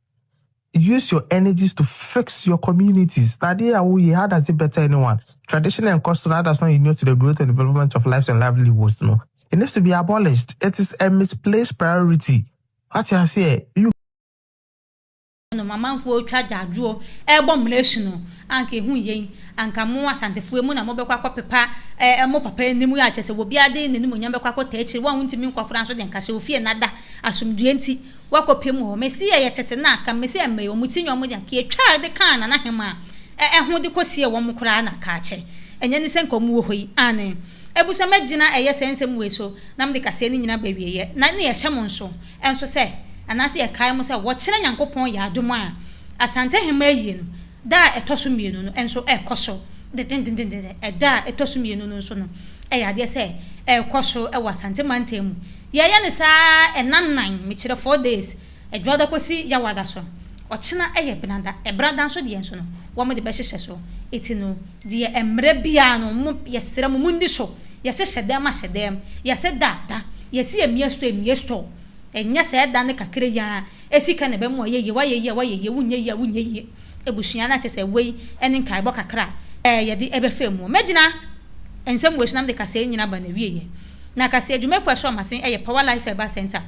Use your energies to fix your communities na adeɛ a woyɛ how does it better anyone? Tradition a ɛkɔ so no how does not inure to the growth and development of lives and livelihoods no it needs to be abolished it is a misplaced priority wate aseɛ you nom amanfoɔ retwa gyaadwoɔ rebɔ mmena su no anka ɛho nyɛ yi anka mo Asantefo emu na mobɛkɔ akɔ pepa mo papa anim yɛ akyɛ sɛ obiara de n'animonyam bɛkɔ akɔ taa akyire wo a wontumi nkɔ koraa nso deɛ nka sɛ ofie nada asomdwoeɛ nti Wɔakɔpɛ mu hɔ. Mesia yɛ tete no a, kan Mesia mmɛɛ wɔn ti nyɛ wɔn de anka yɛtwaa de kaa Nana Hemaa ɛho de kɔ siee wɔn koraa na anka akyɛ ɛnyɛ ne sɛ nka wɔn wɔ hɔ yi aane abusua mɛgyina ɛyɛ sɛ nsɛm wei so na mede kaseɛ no nyina ba wieɛ na ne yɛhyɛ mo nso nso sɛ anaase yɛkae mo sɛ wɔkyena Nyankopɔn yɛ adom a Asante Hemaa ayie no Da a ɛtɔ so mmienu no nso rekɔ so dendendendendennden. Ɛda a ɛtɔ so mmienu no nso no, ɛyɛ adeɛ sɛ ɛrekɔ so wɔ Asante mantam mu. Yɛreyɛ no saa ara, nna nnan, mekyerɛ four days, Ɛdwoada kɔsi Yawada so. Ɔkyena yɛ Benada. Benada nso deɛ nso no, wɔde bɛhyehyɛ so. Enti no, deɛ mmerɛ biara no, mo, yɛsrɛ mo, monni so. Yɛse hyɛ dɛm a, hyɛ dɛm. Yɛse da a, da. Yɛse yɛmia store a, mia store. Ɛnyɛ saa ɛda no kakra yi ara. Esi ka na ɛbɛma wayɛ yie, wayɛ yie a, wayɛ yie, wonyɛ yie a, wonyɛ yie. Abusua no a kyerɛ sɛ wei ne nkaebɔ kakra a yɛde bɛfa mu. Mɛgyina nsɛm wei so na mede kaseɛ yi nyinaa aba n'awieɛ. Na kaseɛ dwumakuo a ɛhyɛ wɔn ase yɛ Power Life Herbal Centre.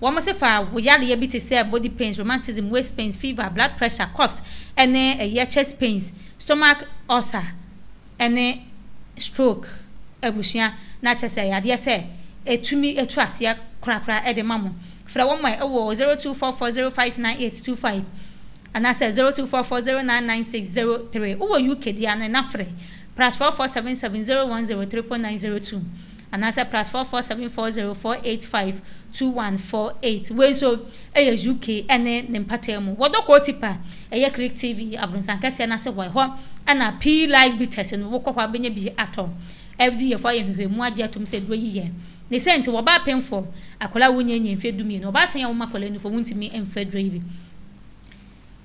Wɔn se fa wo yareɛ bi te sɛ body pains, rheumatism, waist pains, fever, blood pressure, coughs, ne ɛyɛ chest pains, stomach ulcer, ne stroke abusua na kyɛ sɛ yadeɛ sɛ ɛtumi ɛtu aseɛ korakora de ma mo. Frɛ wɔn ɛ wɔ 0244059825 anaasɛ 0244099603 wowɔ UK deɛ a na frɛ plus 44770103.902. Anaasɛ plus four four seven four zero four eight five two one four eight. Wei nso yɛ UK ne ne mpataa mu. Wɔ Dɔkɔɔ Tip a ɛyɛ Click TV abrɔsan kɛseɛ no ase hɔ. Ɛhɔ na pii live beaters no. Wokɔ hɔ a wobɛnya bi atɔ. FDAfoɔ ayɛ nhwehwɛmu agye atom sɛ aduro yi yɛ. Ne sɛ nti wɔ ɔbaa penfoɔ akwadaa a wonnyee nyee mfeɛ dumienu, ɔbaa ten a woma akwadaa nufoɔ wontumi mfa aduro yi bi.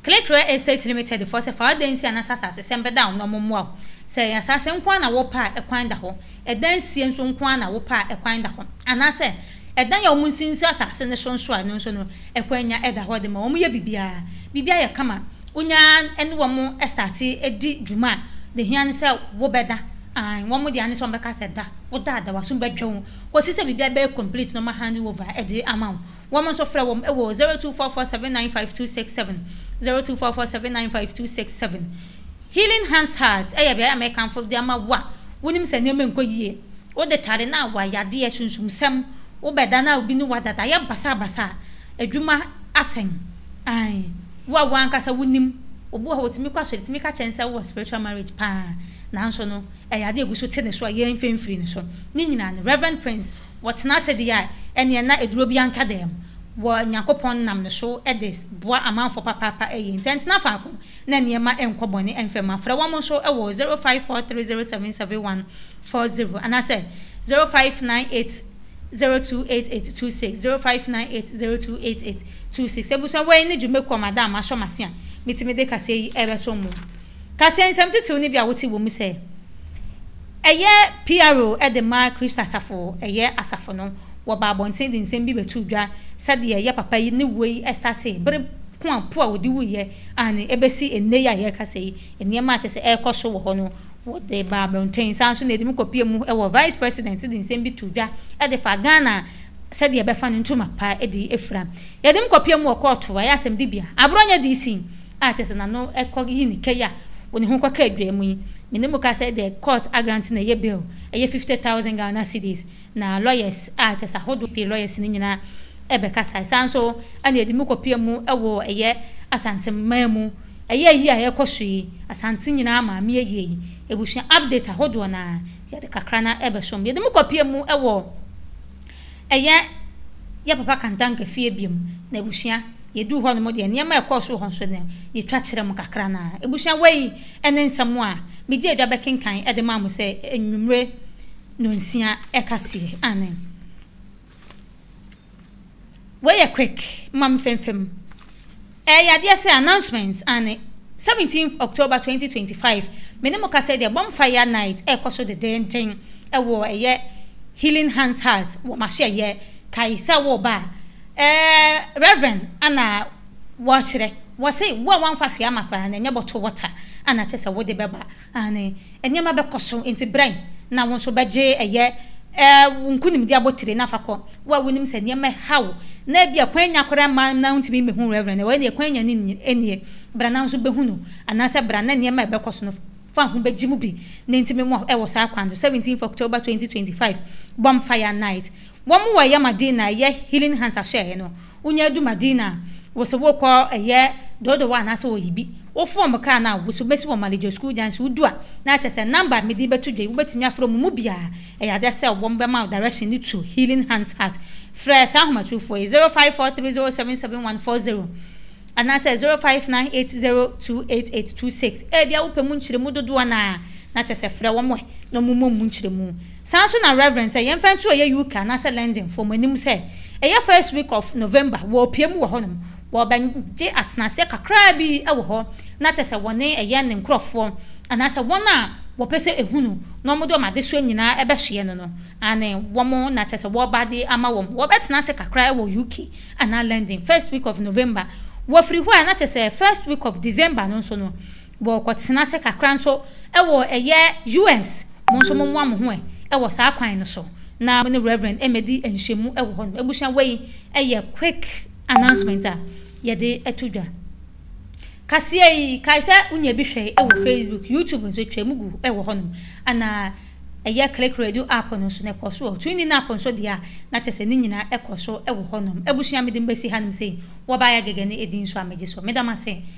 Clickrell Estates Limited foɔ sɛ fa adansi a na sɛ asasesɛm bɛda wo na wɔmmoa wo. Sɛ ɛyɛ asase nko ara na wopɛ a ɛkwan da hɔ. Ɛdansie nso nko ara na wopɛ a ɛkwan da hɔ. Anaasɛ ɛdan a wɔnsinsi asase no so nso a ɛno nso no ɛkwan nya da hɔ de ma wɔyɛ biribiara. Biribiara yɛ kama. Wonya ne wɔn starte di dwuma a, deɛ ɛhia ne sɛ wobɛda. Aane, wɔn deɛ ane sɛ wɔbɛka sɛ da. Woda a da, w'aso bɛdwo wo kɔsi sɛ biribiara bɛyɛ complete na wɔahandle over de ama wo. Wɔn nso frɛ wɔn wɔ 0244795267, 0244795267. Healing Hands Heart yɛ beae a mekamfo de ama wo a wonim sɛ nneɛma nkɔ yie. Wode tare no a, w'ayadeɛ, sunsumsɛm, wobɛda no a obi ne wo ada, dayɛ basabasa, adwuma asɛm, ae, wo a wo ankasa wonim. Obi wɔ hɔ a ɔtumi kɔ asɔre, ɛtumi ka kyerɛ no sɛ wowɔ spiritual marriage paa, nanso no ɛyɛ adeɛ a ɛgu so te ne so a yɛmfa mfiri ne so. Ne nyinaa no, Rev. Prince. Wɔtena ase de yɛ nea na aduro biara nka dɛm wɔ Nyankopɔn nam ne so de boa amanfoɔ papaapa yie nti ɛntena faako na nneɛma ɛnkɔ bɔne ɛmfa mu. Afrɛ wɔn nso wɔ 0543077740 anaasɛ 0598028826, 0598028826. Abusua wei ne dwumakuo a m'ada a m'ahyɛ m'ase a metumi de kaseɛ yi ɛrebɛsom mo. Ka sɛ nsɛm titiriw no bi a wote wɔ mu sɛ ɛyɛ PRO de ma Kristo asafo, ɛyɛ asafo no, wɔba abɔnten de nsɛm bi bɛto dwa, sɛdeɛ ɛyɛ papa yi ne woi startee bere ko a po a wɔde wuiɛ, aane, ɛbɛsi nnɛ yi a yɛrekasa yi, nneɛma a kyerɛ sɛ ɛrekɔ so wɔ hɔ no, wɔde ba abɔnten. Saa ara nso na ɛde mu kɔpue mu wɔ Vice President de nsɛm bi too dwa de faa Ghana sɛdeɛ ɛbɛfa no ntoma pa de afira. Yɛde mu kɔpue mu wɔ kɔɔto, ɛyɛ asɛmdibea, aborɔnyɛ DC, a kyerɛ sɛ n'ano kɔ yi ne kɛyi a ɔne ho kɔ ka adwa mu yi, me ne mo ka sɛ the court agrante na ɛyɛ bail, ɛyɛ fifty thousand Ghana cedis, na lawyers a kyerɛ sɛ ahodoɔ pii lawyers no nyinaa ɛbɛkasae. Saa nso ɛna ɛde mu kɔpia mu wɔ ɛyɛ Asante mmaa mu, ɛyɛ ayi a ɛkɔ so yi, Asante nyinaa maame ayie yi, abusua update ahodoɔ no ara, yɛde kakra no ara ɛbɛsom. Yɛde mu kɔpia mu wɔ. Ɛyɛ yɛ papa Kantanka fie biom na abusua yɛduu hɔ nom deɛ nneɛma a ɛkɔɔ so wɔ hɔ nso no yɛtwa kyerɛ mo kakra no ara. Abusua wei ne nsɛm a megyee dwa bɛkenkan de maa mo sɛ anwumerɛ nonsia ɛkaseɛ. Aane. Wei yɛ quick, mma me fɛmfɛm. Ɛyɛ yadeɛ sɛ announcement aane. Seventeenth October twenty twenty five me ne mo kasa yi deɛ bonfire night ɛrekɔ so dedeenden ɛwɔ ɛyɛ healing hands heart wɔ mahyɛyɛ kae sɛ woreba a ɛɛ reverend ɛna wɔrekyerɛ wɔse wo a woamfa hwee ama koraa no ɛnyɛ bottle water ɛna kyerɛ sɛ wode bɛba Aane, nneɛma bɛkɔ so, enti brɛn, na wo nso wobɛgye ɛyɛ, ɛɛ, wo nkonimdi abotire, na fa kɔ. Wo a wonim sɛ nneɛma reha wo, na ebia kwan nnya koraa mma na wuntumi mmehu Reverend no, ɛnneɛ kwan nnya no nnie. Bra na wo nso behu no, anaasɛ bra na nneɛma a ɛbɛkɔ so no fa ho begye mu bi, na enti me mmoa wo wɔ saa kwan no. Seventeenth October twenty twenty five, Bonfire Night. Wɔn wɔ ɛyɛ ma din a ɛyɛ Healing Hands ahyɛeɛ no, Wonya du Madina a, wose wokɔ ɛyɛ Dodowa anaasɛ Oyibi. Woforo wɔn kaa no a, wose wobesi wɔ Malijo School Junction. Wodu a, na kyerɛ sɛ number a mede bɛto dwa yi, wobetumi afrɛ wɔn mu biara. Ɛyɛ ade sɛ wɔbɛma wo direction no to Healing Hands Hut. Frɛ saa ahomatorofo yi, 0543077140 anaasɛ 0598028826. Ebia wopɛ mu nkyeremu dodoɔ no ara, na kyerɛ sɛ frɛ wɔn na wɔmmɔ mu nkyeremu. Saa ara nso na Rev. Sɛ yɛmfa nto ɛyɛ UK anaasɛ London foɔ mo anim sɛ ɛyɛ first week of November wɔrepue mu wɔ hɔ nom, wɔbɛgye atenaseɛ kakraa bi wɔ hɔ na kyerɛ sɛ wɔne ɛyɛ ne nkorɔfoɔ anaasɛ wɔn a wɔpɛ sɛ ɛhu no na wɔde wɔn adesoa nyinaa bɛsoɛ no no, aane, wɔn na kyerɛ sɛ wɔreba de ama wɔn, wɔbɛtena ase kakra wɔ UK anaa London first week of November, wɔfiri hɔ a na kyerɛ sɛ first week of December no nso no, Wɔkɔtena ase kakra nso wɔ ɛyɛ US. Mo nso mommoa mo ho ɛ wɔ saa kwan no so na mo ne Rev. Mmɛdi nhyiamu wɔ hɔ nom. Abusua wei yɛ quick announcement a yɛde to dwa. Kaseɛ yi, kae sɛ wonya bi hwɛ wɔ Facebook, YouTube nso twa mu gu wɔ hɔ nom. Ana ɛyɛ Click Radio app no nso no ɛkɔ so wɔ hɔ. TuneIn app nso deɛ a na kyɛ sɛ ne nyina ɛkɔ so wɔ hɔ nom. Abusua mede mo bɛsi ha nom sei. Wɔbaayɛ Agege ne edin nso a megye so. Meda mo ase.